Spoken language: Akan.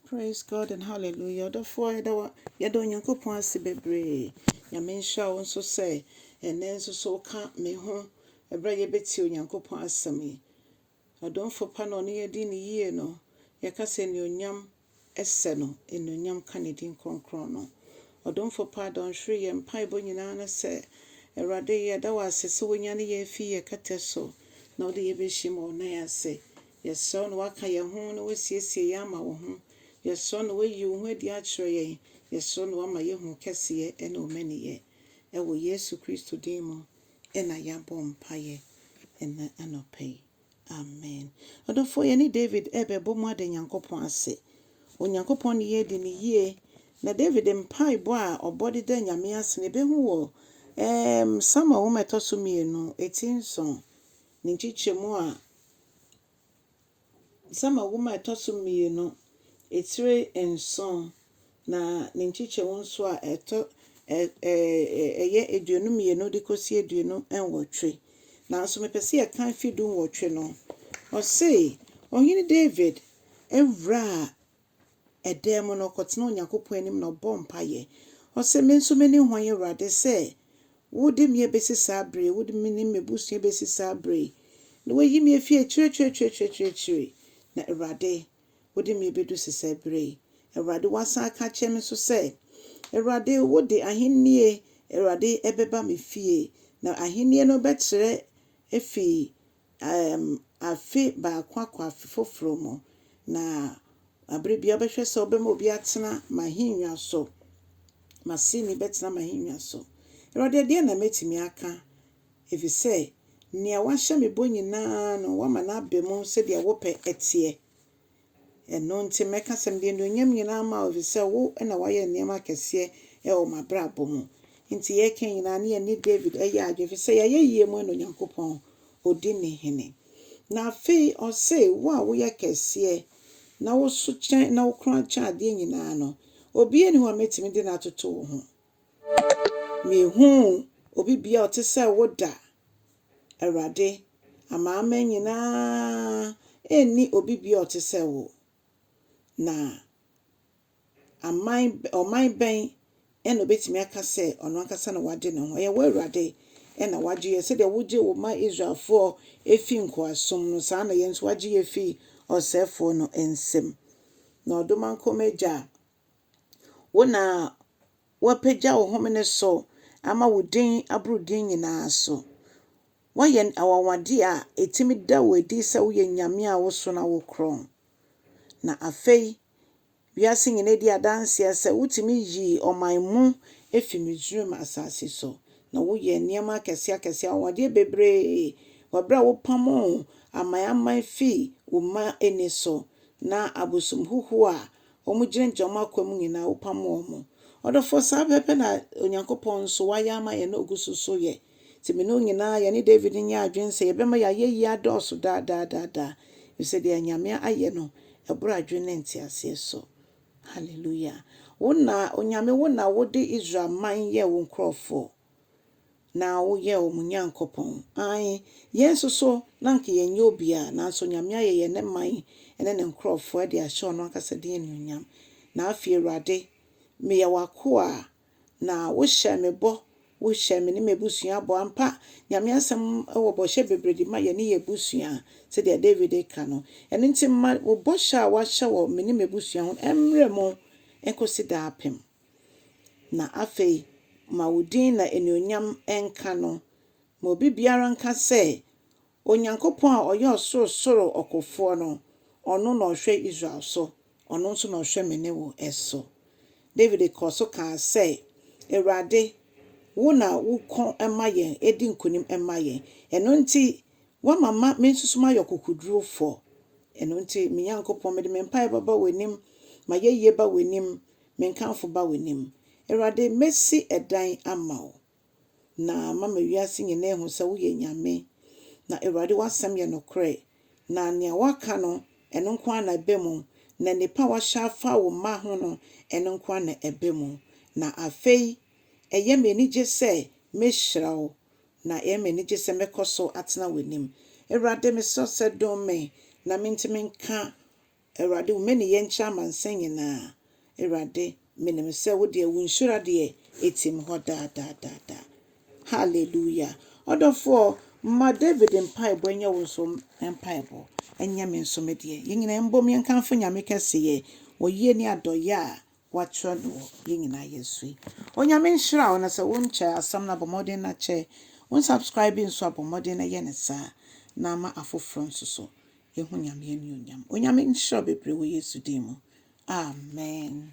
Praise God and hallelujah ɔdɔfoɔ yɛda wa yɛda Onyankopɔn ase bebree Nyame nhyira wo nso sɛ ɛnɛ nso so woka me ho ɛberɛ a yɛbɛtie Onyankopɔn asɛm yi ɔdomfo pa na ɔne yɛdi ne yie no yɛka sɛ anuonyam ɛsɛ no anuonyam ka ne din kronkron no ɔdomfo pa dɔnhwere yɛ mpaebɔ nyinaa no sɛ Awurade yɛda wo ase sɛ wonya ne yɛ afi yɛ kɛtɛ so na wode yɛbɛhyɛ mu ɔnan ase Yɛsrɛ wo na woaka yɛn ho na woasiesie yɛn ama wo ho. Yɛsrɛ wo na woayi wo ho adi akyerɛ yɛn. Yɛsrɛ wo na woama yɛahu wo kɛseyɛ ne wo mmaninyɛ. Ɛwɔ Yesu Kristo din mu na yɛabɔ mpaeɛ ɛnnɛ anɔpa yi. Amen. Adɔfoɔ, yɛne David rebɛbɔ mu ada Nyankopɔn ase. Onyankopɔn ne yɛn adi no yie. Na David mpaebɔ a ɔbɔ de da Nyame ase no, yɛbɛhu wɔ ɛɛm Samuel nwoma a ɛtɔ so mmienu, ti nson. Ne nkyekyɛmu a December nwoma a ɛtɔ so mmienu, etire nson, na ne nkyekyɛmu nso a ɛtɔ ɛ ɛ ɛyɛ aduonu mmienu de kɔsi aduonu nwɔtwe. Nanso mepɛ sɛ yɛka mfe du nwɔtwe no. Ɔse, Ɔhene David wuraa dan mu na ɔkɔtenaa Onyankopɔn anim na ɔbɔɔ mpaeɛ. Ɔse, Me nso mene hwan Awurade sɛ wode me abɛsi saa berɛ yi, wode me ne m'abusua bɛsi saa berɛ yi, na woayi me afiri akyiriakyiriakyiriakyiriakyiri, na Awurade wode me abɛdu sesaa berɛ yi. Awurade woasan aka akyerɛ me nso sɛ, Awurade wode ahennie Awurade ɛbɛba me fie, na ahennie no bɛtrɛ afiri um, afe baako akɔ afe foforo mu, na bere biara wobɛhwɛ sɛ wobɛma obi atena m'ahennwa so, m'aseni bɛtena m'ahennwa so. Awurade, ɛdeɛn na mɛtumi aka? Efisɛ nea woahyɛ me bɔ nyinaa no, woama no aba mu sɛdeɛ wo pɛ teɛ. Ɛno nti, mɛka sɛ, Mede anuonyam nyinaa ma wo, ɛfiri sɛ wo na woayɛ nneɛma akɛseɛ wɔ m'abrabɔ mu. Enti yɛreka nyinaa no, yɛne Dawid yɛ adwene, ɛfiri sɛ yɛayɛ yie mmɔe na Onyankopɔn ɔdi ne hene. Na afei ɔse, Wo a woyɛ kɛseɛ, na wo so kyɛn, na wo kronn kyɛn adeɛ nyinaa no, obiara nni hɔ a mɛtumi de no atoto wo ho. Mehuu obi biara a ɔte sɛ wo da. Awurade, amanaman nyinaa nni obi bio a ɔte sɛ wo, na aman, ɔman bɛn na obetumi aka sɛ ɔno ankasa na wagye ne ho? Ɛyɛ wo Awurade na wagye yɛn. Sɛdeɛ wogye wo mma Israelfoɔ fii nkoasom no, saa ara na yɛn nso wagye yɛn afi ɔsɛefoɔ no nsam. Na ɔdomankoma agya a. Wo na woapagya wo home no so ama wo din aboro din nyinaa so. Woayɛ anwanwadeɛ a ɛtumi da wo adi sɛ woyɛ Nyame a woso na wokorɔn. Na afei wiase nyinaa di adanseɛ sɛ wotumi yii ɔman mu firi Misraim asase so, na woyɛɛ nneɛma akɛseɛ akɛseɛ, anwanwadeɛ bebree wɔ berɛ a wopamoo aman aman firii wo mma ani so, na abosom huhuo a wɔgyinagyina wɔn akwaa mu nyinaa, wopam wɔn. Ɔdɔfoɔ, saa pɛpɛ na Onyankopɔn nso wayɛ ama yɛn na ɔgu so nso yɛ. Nti me ne wo nyinaa, yɛne David nyɛ adwene sɛ yɛbɛma yɛn ayɛyie adɔɔso daa daa daa daa, ɛfiri sɛ deɛ Nyame ayɛ no, ɛboro adwene ne nteaseɛ so. Hallelujah. Wo na, Onyame, wo na wode Israel man yɛɛ wo nkurɔfoɔ. na woyɛ wɔn Nyankopɔn. Aane, yɛn nso so, na anka yɛnyɛ obiara, nanso Nyame ayɛ yɛn ne man ne ne nkurɔfoɔ de ahyɛ ɔno ankasa din anuonyam. Na afei Awurade, meyɛ w'akoa, na wohyɛɛ me bɔ, wohyɛɛ me ne m'abusua bɔ. Ampa, Nyame asɛm wɔ bɔhyɛ bebree de ma yɛne yɛn abusua, sɛdeɛ Dawid reka no. Ɛno nti ma wo bɔhyɛ a woahyɛ wɔ me ne m'abusua ho no mmra mu nkɔsi daapem. Na afei, ma wo din na anuonyam nka no. Ma obi biara nka sɛ, 'Onyankopɔn a ɔyɛ ɔsorosoro ɔkofoɔ no, ɔno na ɔhwɛ Israel so, ɔno nso na ɔhwɛ me ne wo so. Dawid kɔɔ so kaa sɛ, Awurade, wo na woko ma yɛn di nkonim ma yɛn. Ɛno nti, woama ma me nsusu mayɛ ɔkokodurofoɔ. Ɛno nti, me Nyankopɔn, mede me mpaeɛ bɛba w'anim, m'ayɛyie ba w'anim, Me nkamfo ba w'anim. Awurade, mɛsi dan ama wo, na mama wiase nyinaa ahu sɛ woyɛ Nyame. Na Awurade, w'asɛm yɛ nokorɛ, na nea woaka no, ɛno nko ara na ɛba mu, na nnepa a woahyɛ afa wo mma ho no, ɛno nko ara na ɛba mu. Na afei, ɛyɛ me anigye sɛ mɛhyira wo, na ɛyɛ me anigye sɛ mɛkɔ so atena w'anim. Awurade, mesrɛ wo sɛ dom me, na mentumi nka Awurade, wo mmɛ ne yɛ nkyɛ amansan nyinaa, Awurade, menim sɛ wo deɛ, wo nhyira deɛ, ɛtim hɔ daa daa daa daa. Hallelujah! Ɔdɔfoɔ, ma David mpaebɔ nyɛ wo nso mpaebɔ, ɛnyɛ me nso me deɛ. Yɛn nyinaa yɛmbom yɛnkamfo Nyame kɛseyɛ, ɔyie ne adɔyɛ a Wɔakyerɛ no wɔ Yɛn Nyinaa Yɛ So yi. Onyame nhyira wo na sɛ wo nkyɛ asɛm no a bɔ mmɔden na kyɛ. Wo nsubscribe nso a bɔ mmɔden na yɛ no saa na ama afoforɔ nso so yɛhu Nyame anuonyam. Onyame nhyira wo bebree wɔ Yesu din mu. Amen.